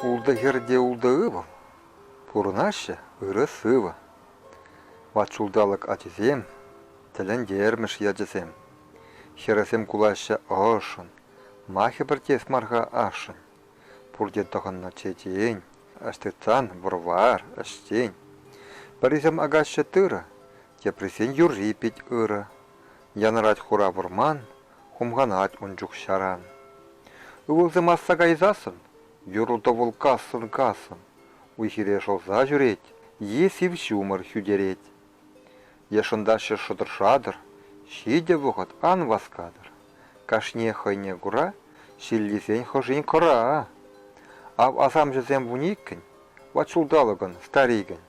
Ултӑ хӗрте ултӑ ывӑл. Пурӑнаҫҫӗ ырӑ сывӑ. Ват ҫулталӑк ачисем, тӗлӗнтермӗш ячӗсем. Хӗрӗсем кулаҫҫӗ ӑшшӑн, ма хӗпӗртес мар-ха ашшӗн? Пурте тӑхӑннӑ чечен, ӑҫтӑтсан вӑр-вар, ӗҫсен. Пӗрисем акаҫҫӗ тырӑ, теприсен юрри пит ырӑ. Янӑрать хура вӑрман, хумханать ун чух-ҫаран. Ывӑлсем асса кайсассӑн, юрлӑ-тӑвӑл-кассӑн-кассӑн, уй-хире шӑлса ҫӳрет, е сив ҫумӑр хӳтерет. Е шӑнтаҫҫӗ шӑтӑр-шатӑр, ҫитӗ вӑхӑт ан васкатӑр. Кашниех хӑйне кура, ҫиллисен хӑшин кӑра. Ав асамҫӑсем вун иккӗн, ват ҫулталӑкӑн, старикӗн.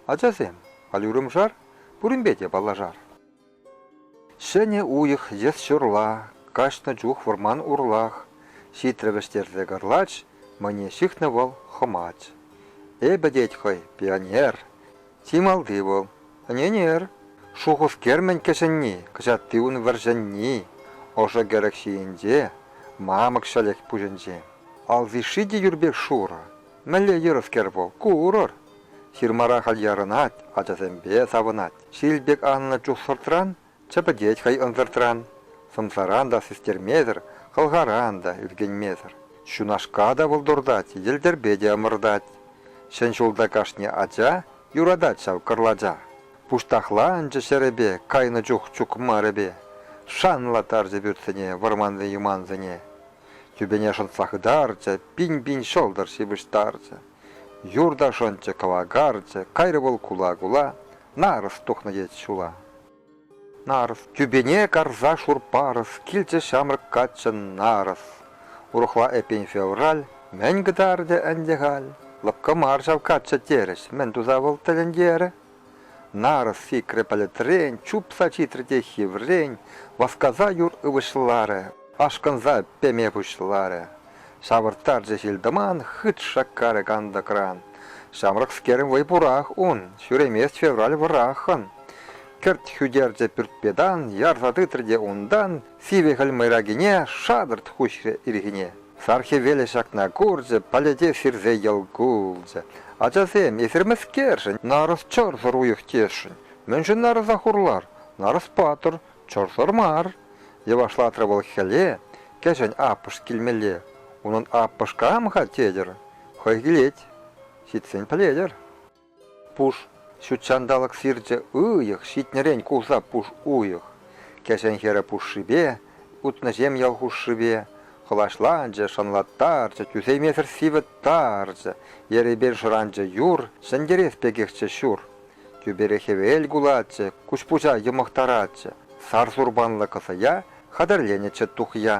Ачасем, халь урӑмшар? Пуринпе те паллашар. Ҫӗнӗ уйӑх йӑс-ҫурла, каҫнӑ чух вӑрман урлах, ҫитрӗ вӗҫтерсе кӑрлач, мӑне ҫыхнӑ вӑл хӑмач. Эпӗ, тет хӑй, пионер. Чи малти вӑл, ӗненер. Шухӑш-кермӗн кӗҫӗнни, кӑҫатти ун вӗрҫӗнни. Ӑшӑ-кӗрӗк ҫийӗнче, мамӑк ҫӗлӗк пуҫӗнче. Аллиши те юр пек шурӑ, Мӗнле юрӑскер вӑл, ку урӑр? Ҫырмара халь ярӑнать, ачасемпе савӑнать. Ҫил пек аннӑ чух сӑртран чӗпӗтет хӑй ӑнсӑртран. Сӑмсаран та систермесӗр, хӑлхаран та ӳркенмесӗр. Ҫунашка та вӑл туртать, йӗлтӗрпе те ӑмӑртать. Ҫӗн ҫулта кашни ача юратать ҫав кӑрлача. Пуҫтахла ӑнчӗ ҫӗрӗпе кайнӑ чух чукмарӗпе. Шанлаттарчӗ пӳртсене вӑрманси-юмансене. Тӳпене шӑнтса хытарчӗ, пин-пин ҫӑлтӑр ҫыпӑҫтарчӗ. Юр та шӑнчӗ кӑвакарчӗ, кайрӗ вӑл кула-кула. Нарӑс тухнӑ тет ҫула. Нарӑс, тӳпене карса шур парӑс, килчӗ ҫамрӑк каччӑ нарӑс. Урӑхла эппин февраль, мӗн кӑтартӗ ӗнтӗ халь? Лӑпкӑ мар ҫав каччӑ терӗҫ, мӗн туса вӑл тӗлӗнтерӗ? Нарӑс сикрӗ пӗлӗтрен, чупса ҫитрӗ те хиврен, васкаса юр ывӑҫларӗ, ашкӑнса пеме пуҫларӗ. Ҫавӑрттарчӗ ҫил-тӑман, хыт шаккарӗ кантӑкран. Ҫамрӑкскерӗн вӑй пурах ун, ҫӳремест февраль вӑраххӑн. Кӗрт хӳтерчӗ пӳртпе тан, ярса тытрӗ те унтан сивӗ хӗл мӑйракине шатӑрт хуҫрӗ ирхине. Сархивелӗ ҫакна курчӗ, палете сирсе йӑл кулчӗ. Ачасем, эсир мӗскершӗн нарӑс чӑрсӑр уйӑх тесшӗн? Мӗншӗн нарӑса хурлар? Нарӑс патӑр, чӑрсӑр мар! йӑвашлатрӗ вӑл хӗле. Кӗҫӗн аппӑш килмелле. Унӑн аппӑш кам-ха тетӗр? Хӑй килет. Ҫитсен пӗлетӗр. Пуш ҫут ҫанталӑк сирчӗ уйӑх ҫитнӗрен кулса пуш уйӑх. Кӗҫӗн хӗрӗ пушшипе, утнӑҫем ял хушшипе хӑлаҫланчӗ, шӑнлаттарчӗ, тӳсеймесӗр сивӗт тарчӗ, ерепен шӑранчӗ юр, ҫӗнтерес пекехчӗ ҫур. Тӳпере хӗвел кулатчӗ, куҫпуҫа йӑмӑхтаратчӗ. Сар сурпанлӑ кӑсӑя хатӗрленӗччӗ тухья,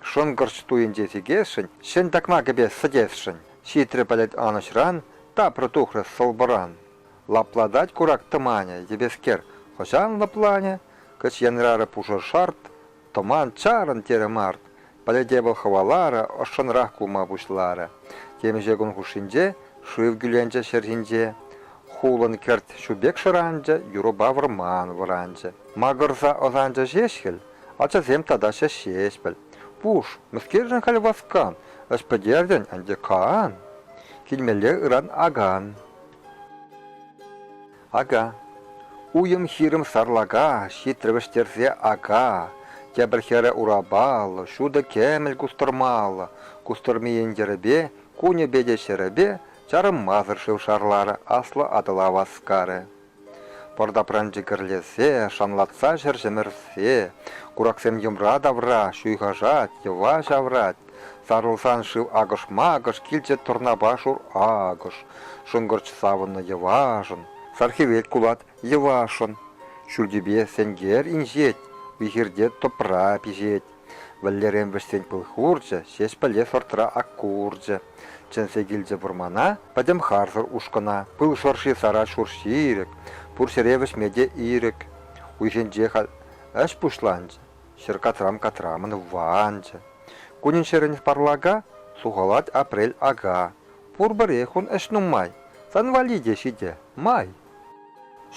шӑнкӑрч туйӗнче сикесшӗн, ҫӗн такма кӗпе сӗтесшӗн. Ҫитрӗ пӗлӗт анӑҫран, тапрӗ тухрӗ сӑлпӑран. Лаплатать курак тӑманӗ, йӗпескер, хӑҫан лӑпланӗ? Кӗҫ янрарӗ пушӑ шарт, тӑман чарӑн, терӗ март. Пӗлӗте вӑл хӑваларӗ, ӑшшӑнрах кулма пуҫларӗ. Темиҫе кун хушшинче шыв кӳленчӗ ҫӗр ҫинче. Хулӑн кӗрт ҫу пек шӑранчӗ, юрӑпа вӑрман вӑранчӗ. Макӑрса ӑсанчӗ ҫеҫ хӗл, Ачасем тата ҫеҫ ҫеҫпӗл. Пуш, мӗскершӗн халь васкан? Ӗҫ пӗтертӗн ӗнтӗ, кан. Килмелле ыран акан. Ака. Уйӑм-хирӗм сарлака, ҫитрӗ вӗҫтерсе ака. Тепӗр хӗрӗ урапаллӑ, ҫутӑ кӗмӗл кустӑрмаллӑ. Кустӑрмийӗн йӗрӗпе, кунӗпе те ҫӗрӗпе чарӑнмасӑр шыв шарларӗ, аслӑ Атӑла васкарӗ. Пӑр тапранчи кӗрлесе, шанлатса ҫӗр ҫӗмӗрсе, кураксем йӑмра тавра ҫуйхашать, йӑва ҫаврать. Сарӑлсан шыв акӑш-макӑш, килчӗ тӑрнапа шур акӑш. Шӑнкӑрч савӑннӑ йӑвашӑн, сархивет кулать йӑвашӑн. Ҫӳлтипе сенкер инҫет, вихирте тӑпра пиҫет. Вӗллерен вӗҫсен пыл хурчӗ, Ҫеҫпӗле сортра ак ку урчӗ. Чӗнсе килчӗ вӑрмана пӗтӗм харсӑр ушкӑна. Пыл шӑрши сарать шур ҫирӗк, Пур ҫӗре вӗҫме те ирӗк. Уйсенче халь ӗҫ пуҫланчӗ, Ҫӗр катрам-катрамӑн ванчӗ. Кунӗн-ҫӗрӗн парлака, Сухалать апрель ака. Пурпӗрех ун ӗҫ нумай, Сан валли те ҫитӗ, май.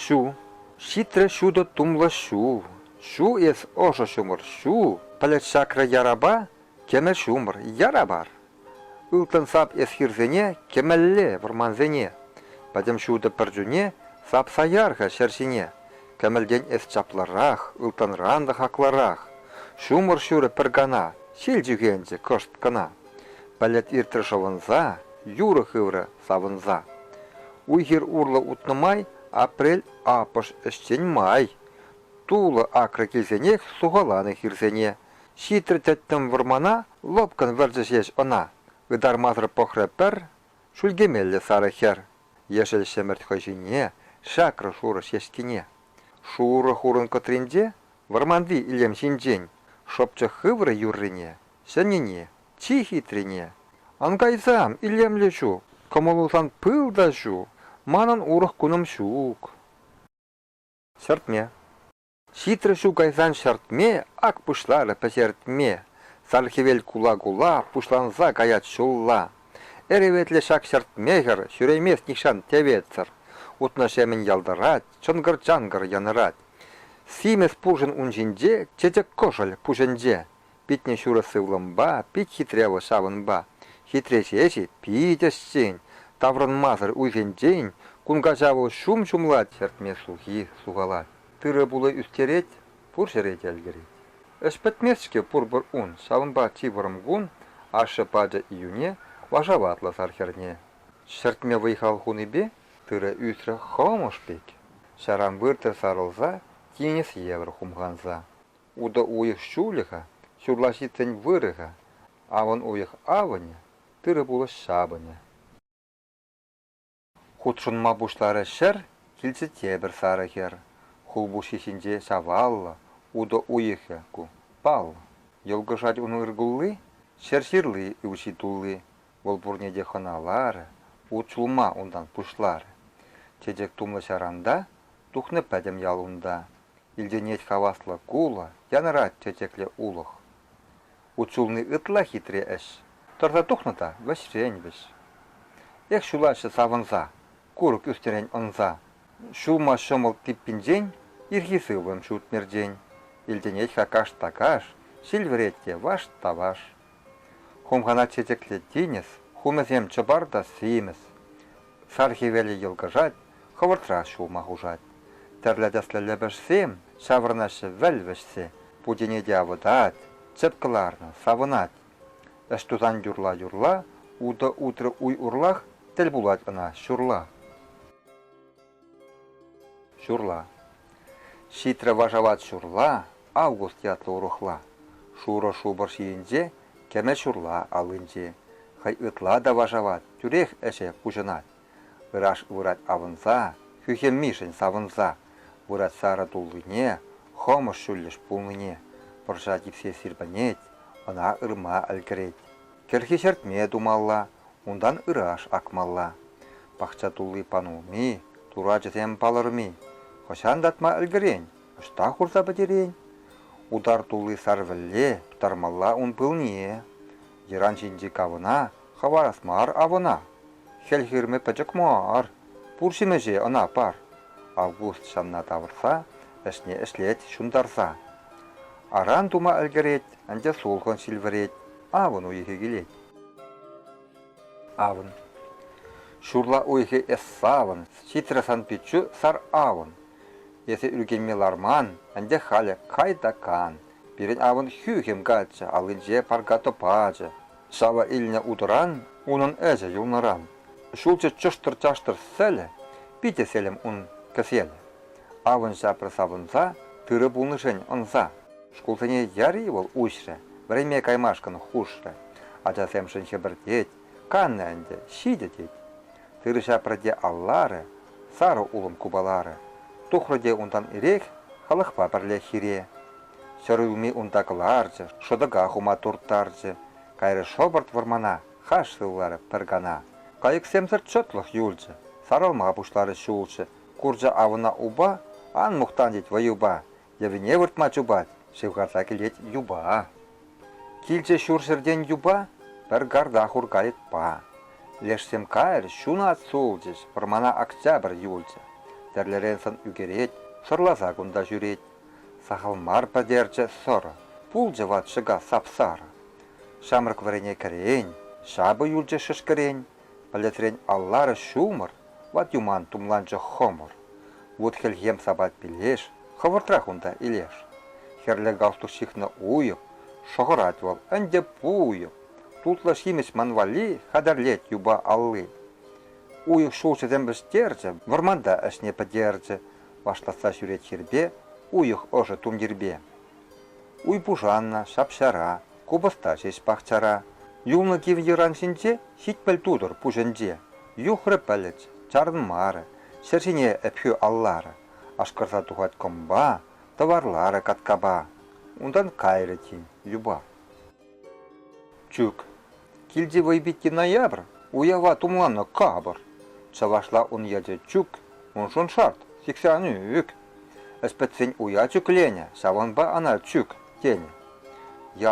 Ҫу, ҫитрӗ ҫутӑ тумлӑ ҫул, Ҫу эс ӑшӑ ҫумӑр, ҫу! Пӗлӗт ҫакрӗ ярапа, кӗмӗл ҫумӑр, яра мар. Ылтӑн сап эс хирсене, кӗмӗлле, вӑрмансене. Пӗтӗм ҫутӑ пӗр чуне, сапса яр-ха ҫӗр ҫине. Кӗмӗлтен эс чаплӑрах, ылтӑнран та хаклӑрах. Ҫумӑр ҫурӗ пӗр кана, ҫил чӳхенчӗ кӑшт кӑна. Пӗлӗт иртрӗ шӑвӑнса, юрӑ хыврӗ савӑнса. Уй-хир урлӑ утнӑ май, апрель апӑш ӗҫчен май. тулӑ акрӗ килсенех сухаланӑ хирсене. Ҫитрӗ тӗттӗм вӑрмана, лӑпкӑн вӗрчӗ ҫеҫ ӑна. Ытармасӑр пӑхрӗ пӗр шӳлкемеллӗ сарӑ хӗр ешӗл ҫӗмӗрт хӑй ҫине, шакрӗ шурӑ ҫеҫкине. Шурӑ хурӑн кӑтринче вӑрманти илем ҫинчен шӑпчӑк хыврӗ юррине, ҫӗннине, чи хитрине. Ӑнкайсам, илемлӗ ҫу, кӑмӑлу сан пыл та ҫу, манӑн урӑх кунӑм ҫук. Ҫӗртме. Ҫитрӗ ҫу кайсан ҫӗртме, ак пуҫларӗ пӗҫертме. Сар хӗвел кула-кула пуҫланса каять ҫулла. Эреветлӗ ҫак ҫӗртме хӗр ҫӳремест нихҫан теветсӗр. Утнӑҫемӗн ялтӑрать, чӑнкӑр-чанкӑр янӑрать. Симӗс пурҫӑн ун ҫинче, чечек кӑшӑль пуҫӗнче. Питне ҫурӑ сывлӑмпа, пит хитре вӑл ҫавӑнпа. Хитре ҫеҫ-и, пит ӗҫчен, таврӑнмасӑр уйхӗнчен кун каҫа вӑл ҫум ҫумлать, ҫӗртме сухи сухалать, тырӑ-пулӑ ӳстерет, пур ҫӗре те ӗлкӗрет. Ӗҫ пӗтмест-ҫке пурпӗр ун, ҫавӑнпа чи вӑрӑм кун, ашшӗ пачӗ июне вашаватлӑ сар хӗрне ҫӗртме вӑй-хал хунипе тырӑ ӳсрӗ хӑмӑш пек, ҫаран выртӑр сарӑлса, тинӗс евӗр хумханса. Утӑ уйӑх ҫулӗ-ха, ҫурлаҫиччен вырӗ-ха, авӑн уйӑх авӑнӗ, тырӑ-пулӑш ҫапӑнӗ. Хутшӑнма пуҫларӗ ҫӗр, килчӗ те пӗр сарӑ хӗр. Хулпуҫҫи ҫинче ҫаваллӑ, утӑ уйӑхӗ ку, паллӑ. Йӑлкӑшать ун ыркулли, ҫӗр ҫырли ывҫи тулли. Вӑл пурне те хӑналарӗ, ут ҫулма унтан пуҫларӗ. Чечек тумлӑ ҫаранта, тухнӑ пӗтӗм ял унта. Илтӗнет хаваслӑ кулӑ, Янӑрать чечекле улӑх. Ут ҫулни ытла хитре ӗҫ, Тӑрса тухнӑ та вӗҫрен вӗҫ. Эх, ҫулаҫҫӗ савӑнса, Курӑк ӳснӗрен ӑнса. Ҫулма ҫӑмӑл типпинчен Ирхи сывлӑм ҫут мертен. Илтӗнет-ха каш та каш, Ҫил вӗрет те ваш та ваш. Хумхана чечеклет тинӗс, хумӗсем чӑпар та симӗс. Сар хӗвелӗ йӑлкӑшать, хӑвӑртрах ҫулма хушать. Тӗрлӗ тӗслӗ лӗпӗшсем ҫаврӑнаҫҫӗ вӗл вӗҫсе, путене те авӑтать, чӗп кӑларнӑ, савӑнать. Ӗҫ тусан юрла-юрла утӑ утрӗ уй урлах, тӗл пулать ӑна ҫурла. Ҫурла. Ҫитрӗ вашават ҫурла, август ятлӑ урӑхла. Шурӑ шупӑр ҫийӗнче кӗмӗл ҫурла аллинче. Хӑй ытла та вашават, тӳрех ӗҫе пуҫӑнать. Ыраш вырать авӑнса, хӳхӗмишӗн савӑнса. Вырать сарӑ туллине, хӑмӑш ҫӳллӗш пулнине. Пӑрҫа типсе сирпӗнет, ӑна ырма ӗлкӗрет. Кӗрхи ҫӗртме тумалла, унтан ыраш акмалла. Пахча тулли панулми, турачӗсем палӑрми. Хӑҫан татма ӗлкӗрен, ӑҫта хурса пӗтерен? Утар тулли сарвӗлле тӑрмалла ун пылне. Йӑран ҫинчи кавӑна хӑварас мар авӑна. Хӗл хырӑмӗ пӗчӗк мар, пур ҫимӗҫе ӑна пар. Август ҫанна тавӑрса, ӗҫне ӗҫлет ҫунтарса. Аран тума ӗлкӗрет, ӗнтӗ сулхӑн ҫил вӗрет. Авӑн уйӑхӗ килет. Авӑн. Ҫурла уйӑхӗ эс савӑн, Ҫитрӗ сан пиччӳ сар авӑн. Эсӗ ӳркенме ларман, Анчах халӗ кай та кан. Пирӗн авӑн хӳхӗм каччӑ, Аллинче парка тӑпачӑ. Ҫава илнӗ утӑран, Унӑн ӗҫӗ юлнӑран. Ҫулҫӑ чӑштӑр-чаштӑр сӗлӗ, Питӗ селӗм ун кӗселӗ. Авӑн ҫапрӗ савӑнса, Тырӑ пулнӑшен ӑнса. Шкулсене яри вӑл уҫрӗ, вӗренме каймашкӑн хушрӗ. Ачасемшӗн хӗпӗртет, каннӑ ӗнтӗ, ҫитӗ тет. Тырӑҫа пӗрте алларӗ, сарӑ улӑм купаларӗ. Тухрӗ те унтан ирех халӑхпа пӗрле хире. Ҫӗр улми унта кӑларчӗ, шӑтӑка хума турттарчӗ. Кайрӗ шӑпӑрт вӑрмана, хаш сывларӗ пӗр кана. Кайӑксемсӗр чӑтлӑх юлчӗ, сарӑлма пуҫларӗ ҫулҫӑ. Курчӗ авӑна упа, ан мухтан тет вӑйӑпа, Йӑвине выртма чупать, ҫывхарса килет юпа. Килчӗ ҫурҫӗртен юпа, пӗр гарда хуркайӑк па. Лешсем кайӑр, ҫунат сулчӗҫ, вӑрмана октябрь юлчӗ. Тӗрлӗрен сӑн ӳкерет, сӑрласа кунта ҫӳрет. Сахал мар пӗтерчӗ сӑрӑ, пулчӗ ват ҫӑка сап-сарӑ. Ҫамрӑк вӗрене кӗрен, ҫапӑ юлчӗ шӗшкӗрен, Пӗлӗтрен алларӑш ҫумӑр, ват юман тумланчӗ хӑмӑр. Вут хӗлхем сапать пилеш, хӑвӑртрах унта илеш. Хӗрлӗ галстук ҫыхнӑ уйӑх, шӑхӑрать вӑл ӗнтӗ пуйӑ. Тутлӑ ҫимӗҫ ман валли хатӗрлет юпа алли. Уйӑх ҫулҫӑсем вӗҫтерчӗ, вӑрманта ӗҫне пӗтерчӗ. Вашлатса ҫӳрет хирпе, уйӑх ӑшӑ тумтирпе. Уй пушаннӑ, ҫап-ҫара, Купӑста ҫеҫ пахчара. Юлнӑ кив йӑран ҫинче ҫитмӗл тутӑр пуҫӗнче. Юхрӗ пӗлӗт, чарӑнмарӗ, ҫӗр ҫине Ӗпхӳ алларӗ. Ашкӑрса тухать кӑмпа, тӑварларӗ каткапа. Унтан кайрӗ тин юпа. Чӳк. Килти вӑй питти ноябрь, уява тумланнӑ капӑр. Чӑвашла ун ячӗ чӳк, уншӑн шарт, сиксе ан ӳк. Ӗҫпӗтсен уя чӳкленӗ, ҫавӑнпа ӑна чӳк тенӗ.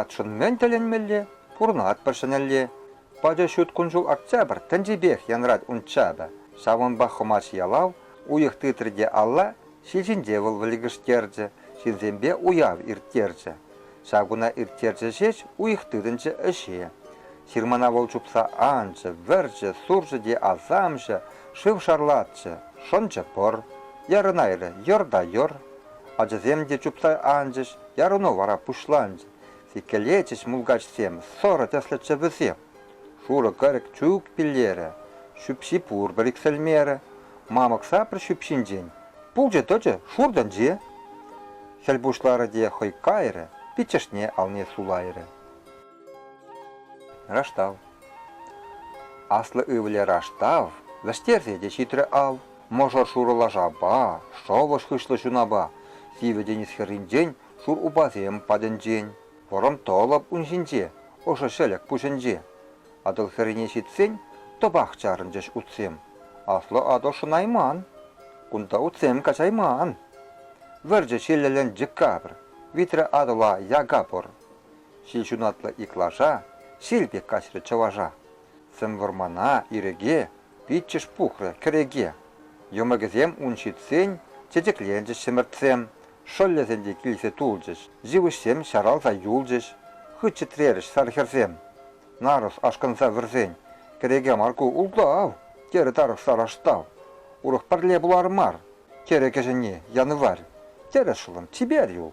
Ятшӑн мӗн тӗлӗнмелле, пурӑнатпӑр ҫӗнӗлле. Пачӑ ҫут кун-ҫул октябрь тӗнчипех янрать ун чапӗ. Ҫавӑнпа Хӑмач ялав уйӑх тытрӗ те алла ҫил ҫинче вӑл вӗлкӗштерчӗ, ҫынсемпе уяв ирттерчӗ. Ҫав куна ирттерчӗ ҫеҫ уйӑх тытӑнчӗ ӗҫе. Ҫырмана вӑл чупса анчӗ, вӗрчӗ, сурчӗ те асамҫӑ, шыв шарлатчӗ, шӑнчӗ пӑр. Ярӑнайрӗ, йӑр та йӑр. Ачасем те чупса анчӗҫ, ярӑну вара пуҫланчӗ. Сиккелетчӗҫ мулкачсем, сӑрӑ тӗслӗччӗ вӗсем. Шурӑ кӑрӑк чук пиллерӗ, ҫӳпҫи пурпӗр иксӗлмерӗ. Мамӑк шапӑр ҫӳпҫинчен пулчӗ-тӑчӗ шур тӗнче. Хӗл пуҫларӗ те хӑй кайрӗ, пиччӗшне алне сулайрӗ. Раштав. Аслӑ ывӑлӗ Раштав вӗҫтерсе те ҫитрӗ ал. Мӑшӑр шурӑ лашапа, шӑвӑш хыҫлӑ ҫунапа, сивӗ тинӗс хӗрринчен шур упасем патӗнчен Коронтолог ун ҫинче, ӑшӑ ҫӗлӗк пуҫӗнче. Атӑл хӗррине ҫитсен, тӑпах чарӑнчӗҫ утсем. Аслӑ Атӑл шӑнайман. Кунта утсем каҫайман. Вӗрчӗ ҫиллӗлӗн декабрь, витрӗ Атӑла яка пӑр. Ҫил ҫунатлӑ иклаша, ҫил пек каҫрӗ чӑваша. Сӗм вӑрмана, ирӗке, пиччӗш пухрӗ кӗреке. Йӑмӑкӗсем ун ҫитсен чечекленчӗҫ ҫӗмӗртсем, шӑллӗсем те килсе тулчӗҫ, йывӑҫсем ҫаралса юлчӗҫ, хыт чӗтрерӗҫ сар хӗрсем. Нарӑс ашкӑнса вӗрсен, Кӗреке мар ку, ултав! терӗ тарӑх Сараштав. Урӑх пӗрле пулар мар, терӗ кӗҫӗнни, янӑварь. Терӗ шӑллӑм, чипер юл.